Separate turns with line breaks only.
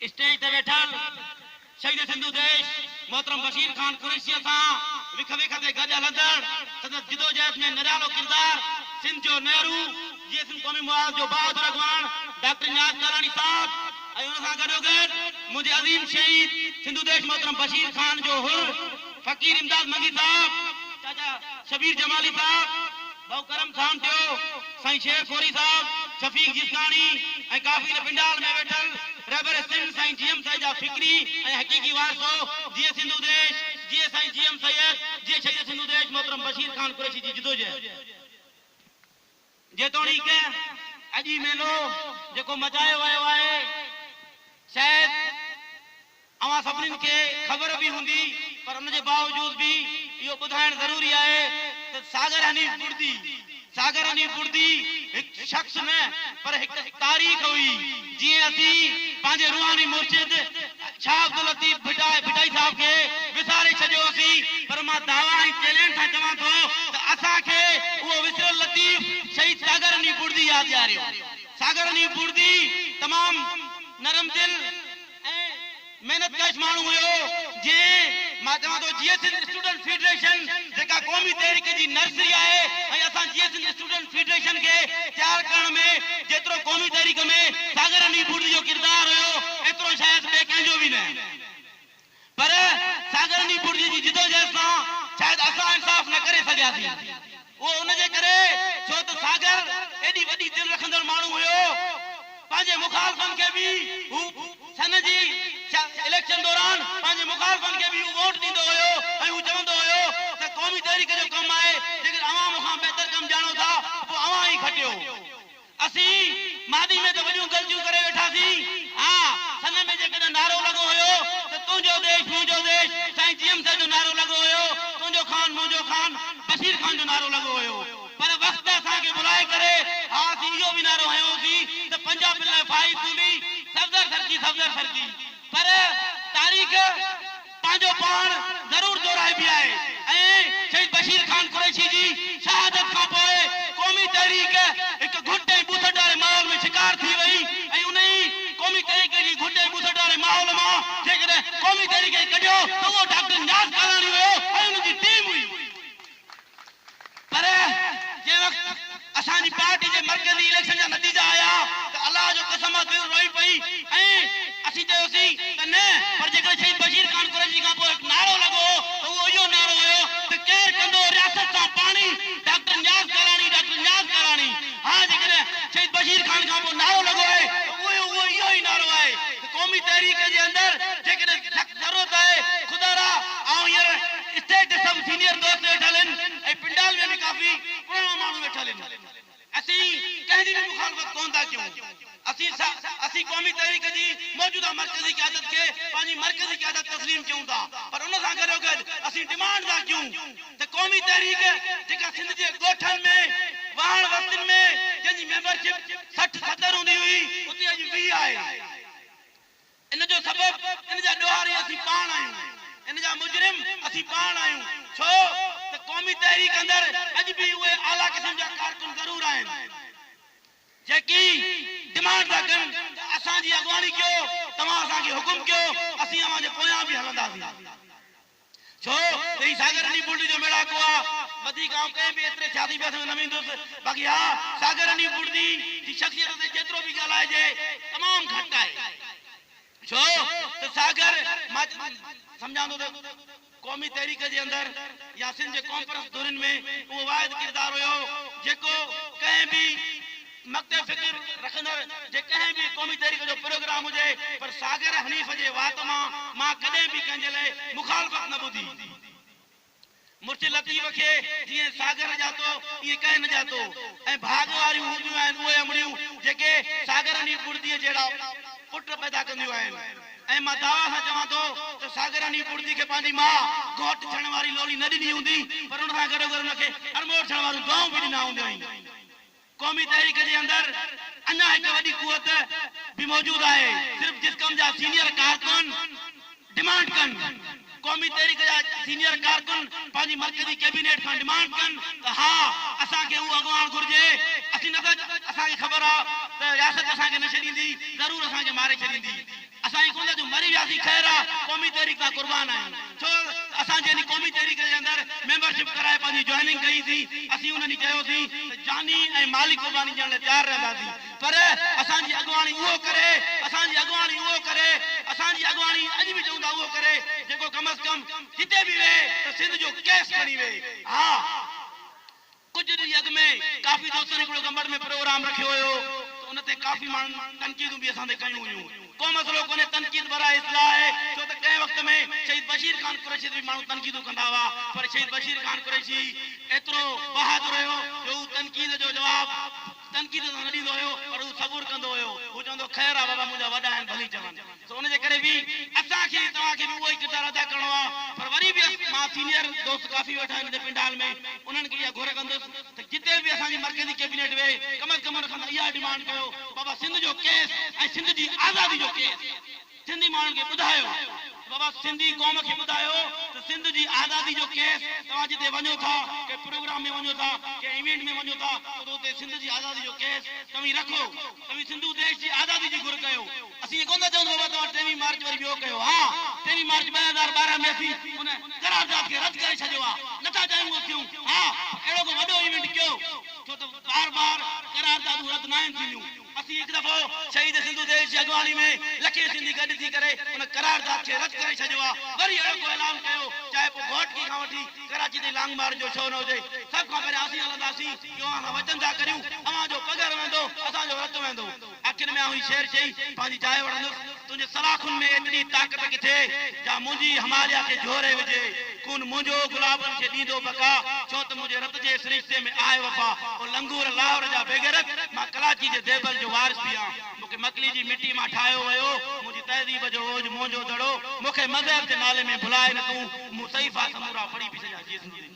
Stage تي ويٺل شهيد سنڌو ديش محترم بشير خان قريشيء سان وک ويک تي گڏ هلندڙ سندس جدوجهد ۾ نرالو ڪردار، سنڌ جو نهرو، جيئي سنڌ قومي محاذ جو بهادر اڳواڻ ڊاڪٽر نياز ڪالاڻي صاحب ۽ ان سان گڏوگڏ منهنجي عظيم شهيد سنڌو ديش محترم بشير خان جو حر فقير امداد منگي صاحب، چاچا شبير جمالي صاحب، ڀائو ڪرم خان ٽيو، سائين شير خوري صاحب، شفيق جسڪاڻي ۽ ڪافي نه پنڊال ۾ ويٺل رهبر سنڌ سائين جي ايم سيد جا فڪري ۽ حقيقي وارثو، جيئي سنڌو ديش، جيئي سائين جي ايم سيد، جيئي شهيد سنڌو ديش محترم بشير خان قريشي جي جدوجهد. جيتوڻيڪ اڄ هي ميلو جيڪو مچايو ويو آهي شايد اوهان سڀني کي خبر به هوندي پر ان جي باوجود به اهو ٻڌائڻ ضروري آهي ته ساگر حنيف ٻڙدي، Sagar Haneef Burdi، هڪ شخص نه پر هڪ تاريخ هئي، جيئن اسين پنهنجي روحاني مرشد شاهه عبداللطيف ڀٽائي صاحب کي وساري ڇڏيو هوسين پر مان دعويٰ ۽ چئلينج سان چوان ٿو ته اسان کي اهو وسريل لطيف شهيد ساگر حنيف ٻڙدي ياد ڏياريو. ساگر حنيف ٻڙدي تمام نرم دل. ۽ محنت ڪش ماڻهو هيو جنهن مان چوان ٿو جيئي سنڌ اسٽوڊنٽ فيڊريشن جيڪا قومي تحريڪ جي نرسري آهي ۽ اسان جيئي سنڌ اسٽوڊنٽ فيڊريشن کي تيار ڪرڻ ۾ جيترو قومي تحريڪ ۾ ساگر علي ڀوٽي جو ڪردار هيو ايترو شايد ٻئي ڪنهن جو به نه پر ساڳرني پورجي جي جدوجهد سان شايد اسان انصاف نه ڪري سگهياسين. اهو ان جي ڪري ڇو ته ساگر ايڏي وڏي دل رکندڙ ماڻهو هيو. پنهنجي مخالفن کي به هو سن جي اليڪشن دوران پنهنجي مخالفن کي به هو ووٽ ڏيندو هيو ۽ هو چوندو هيو ته قومي تحريڪ جو ڪم آهي جيڪڏهن اوهان مون کان بهتر ڪم ڄاڻو ٿا ته پوء اوهان ئي کٽيو. اسين ماضي ۾ ته وڏيون غلطيون ڪري ويٺا سين. ها سن ۾ جيڪڏهن نعرو لڳو هيو ته تنهنجو ديش منهنجو ديش سائين جي ايم سر جو نعرو لڳو هيو، تنهنجو خان منهنجو خان بشير خان جو نعرو لڳو هيو پر وقت ته اسان کي ڀلائي ڪري ها اسين اهو به نعرو هنيو هوسين ته پنجابين لاء فائي سولي سفدر سرڪي سفدر سرڪي پر تاريخ پنهنجو پاڻ ضرور دورائبي آهي ۽ شهيد بشير خان قريشي جي شهادت کان پوء قومي تحريڪ هڪ گهٽ ۽ ٻوسٽ واري ماحول ۾ شڪار ٿي وئي ۽ انهي قومي تحريڪ جي گهٽ ۽ ٻوسٽ واري ماحول مان جيڪڏهن قومي تحريڪ کي ڪڍيو ته اهو ڊاڪٽر نياز ڪالاڻي هيو ۽ ان جي ٽيم هئي. پر جنهن وقت اسان جي پارٽي جي مرڪزي اليڪشن جا نتيجا آيا ته الله جو قسم آ دل روئي پئي ۽ اسين چيوسين ته نه پر جيڪڏهن شهيد بشير خان قريشي کان پوء هڪ نعرو لڳو هو ته اهو اهو نعرو هيو ته ڪير ڪندو رياست سان پاڻي ڊاڪٽر نياز ڪالاڻي ڊاڪٽر نياز ڪالاڻي ها جيڪڏهن شهيد بشير خان کان پوء نعرو لڳو آهي ته اهو اهو اهو ئي نعرو آهي. قومي تحريڪ جي اندر جيڪڏهن سخت ضرورت آهي، خدا را آئون هينئر اتي ڏسم سينيئر دوست ويٺل هن ۽ پنڊال ۾ به ڪافي پراڻا ماڻهو ويٺل هن. اسين ڪنهن جي به مخالفت ڪونه ٿا ڪيون. اسين اسين قومي تحريڪ جي موجوده مرڪزي قيادت کي پنهنجي مرڪزي قيادت تسليم ڪيون ٿا پر ان سان گڏوگڏ اسين ڊمانڊ ٿا ڪيون ته قومي تحريڪ جيڪا سنڌ جي ڳوٺن ۾، واهڻ وستين ۾ جنهن جي ميمبرشپ. سٺ ستر هوندي هئي اتي اڄ ويهه آهي ان جو سبب ان جا ڏوهاري اسين پاڻ آهيون ان جا مجرم اسين پاڻ آهيون ڇو ته قومي تحريڪ اندر اڄ به اهي اعليٰ قسم جا ڪارڪن ضرور آهن جيڪي ڊمانڊ ٿا ڪن ته اسان جي اڳواڻي ڪيو توهان اسان کي حڪم ڪيو اسين اوهان جي پويان به هلنداسين. ڇو ته هي ساگر رني بولٽي جو ميڙاڪو آ. وڌيڪ آئون ڪنهن به ايتري سياسي بحث ۾ نه ويندس. باقي ها ساگر رني بولٽي جي شخصيت تي جيترو به ڳالهائجي تمام گهٽ آهي. ڇو ته ساگر مان سمجهان ٿو ته قومي تحريڪ جي اندر يا سنڌ جي قومپرست ڌرين ۾ اهو واحد ڪردار هيو جيڪو ڪنهن به مکتي فڪر رکندڙ جي ڪنهن به قومي تحريڪ جو پروگرام هجي پر ساغر حنيف جي وات مان مان ڪڏهن به ڪنهن جي لاء مخالفت نه ٻڌي. مرچ لطيف کي جيئن ساغر ڄاتو ائين ڪنهن نه ڄاتو ۽ ڀاڳ واريون هونديون آهن اهي امڙيون جيڪي ساغر حنيف ٻڙڌيء جهڙا پٽ پيدا ڪنديون آهن ۽ مان دعويٰ سان چوان ٿو ته ساغر حنيف ٻڙڌي کي پنهنجي ماء گهوٽ ٿيڻ واري لولي نه ڏني هوندي پر ان سان گڏوگڏ ان کي اڻموٽ ٿيڻ واريون دعائون به ڏنا هونديائين. قومي تحريڪ جي اندر اڃا هڪ وڏي قوت به موجود آهي، صرف جسقم جا سينيئر ڪارڪن ڊمانڊ ڪن، قومي تحريڪ جا سينيئر ڪارڪن پنهنجي مرڪزي ڪيبينيٽ کان ڊمانڊ ڪن ته ها اسان کي اهو اڳواڻ گهرجي، اسين نه ته اسان کي خبر آ ته رياست اسان کي نه ڇڏيندي، ضرور اسان کي ماري ڇڏيندي. اسان جي گوند جو مري وياسين خير آ قومي تحريڪ سان قربان آهيون ڇو ته اسان جنھن قومي تحريڪ جي اندر ميمبر شپ ڪرائي پنھنجي جوائننگ ڪئي سين اسين انھن چيو سين ته جاني ۽ مالي قرباني ڏيڻ لاء تيار رهنداسين پر اسان جي اڳواڻي اهو ڪري اسان جي اڳواڻي اهو ڪري اسان جي اڳواڻي اڄ به چون ٿا اهو ڪري جيڪو ڪم از ڪم جتي به ويهي ته سنڌ جو ڪيس کڻي ويهي ها ڪجهه ڏينهن اڳ ۾ ڪافي دوستن هڪڙو گمبٽ ۾ پروگرام رکيو هيو ته ان تي ڪافي ماڻهن تنقيدون به اسان تي ڪيون هيون. ڪو مسئلو ڪونهي تنقيد برائي اصلاح آهي ڇو ته ڪنهن وقت ۾ شهيد بشير خان قريشي تي به ماڻهو تنقيدون ڪندا هئا پر شهيد بشير خان قريشي ايترو بهادر هيو جو هو تنقيد جو جواب تنقيد ته نه ڏيندو هيو پر هو صبر ڪندو هيو. هو چوندو هو خير آ بابا منهنجا وڏا آهن ڀلي چون. سو ان جي ڪري به اسان کي ۽ توهان کي به اهو ئي ڪردار ادا ڪرڻو آ. پر وري به مان سينيئر دوست ڪافي ويٺا آهن هن پنڊال ۾ انهن کي اها گهر ڪندس ته جتي به اسان جي مرڪزي ڪيبينيٽ ويهي ڪم از ڪم ان کان ته اها ڊمانڊ ڪيو ته بابا سنڌ جو ڪيس ۽ سنڌ جي آزادي جو ڪيس سنڌي ماڻهن کي ٻڌايو ته بابا سنڌي قوم کي ٻڌايو ته سنڌ جي آزادي جو ڪيس توهان جتي وڃو ٿا ڪنهن پروگرام ۾ وڃو ٿا ڪنهن ايونٽ ۾ وڃو ٿا ته اتي سنڌ جي آزادي جو ڪيس توهين رکو توهين سنڌو ديش جي آزادي جي گهر ڪيو اسين اهي ڪونه ٿا چئون ته بابا توهان ٽيويهين مارچ وري ٻيو ڪيو ها ٽيويهين مارچ ٻه هزار ٻارهن ۾ اسين ان قرارداد کي رد ڪري ڇڏيو آهي نه ٿا چاهيون اهو ٿيون ها پر اهڙو ڪو وڏو ايونٽ ڪيو ڇو ته بار بار قراردادون رد ناهن ٿينديون. اسين هڪ دفعو شهيد سنڌو ديش جي اڳواڻي ۾ لکين سنڌي گڏ ٿي ڪري ان قرارداد کي رد ڪري ڇڏيو آ وري اهڙو ڪو اعلان ڪيو چاهي پوء گهوٽڪي کان وٺي ڪراچي تائين لانگ مارچ جو ڇو نه هجي سڀ کان پهريان اسين هلنداسين اهو اوهان سان وچن ٿا ڪريون اوهان جو پگهر وهندو اسان جو رت وهندو آخر ۾ آئون هي شعر چئي پنهنجي جاء وڙهندس. تنهنجي سلاخن ۾ ايتري طاقت ڪٿي، جا منهنجي هماليا کي جهوري وجهي. خون منهنجو گلابن کي ڏيندو بقا، ڇو ته منهنجي رت جي سرشتي ۾ آهي وفا. او لنگور لاهور جا بيغيرت، مان ڪلاچي جي ديبل جو وارث به آهيان. مون کي مڪلي جي مٽي مان ٺاهيو ويو، منهنجي تهذيب جو اوج منهنجو دڙو. مون کي مذهب جي نالي ۾ ڀلائي نه تون، مون صحيفا سمورا پڙهي به ڇڏيا جيسندين.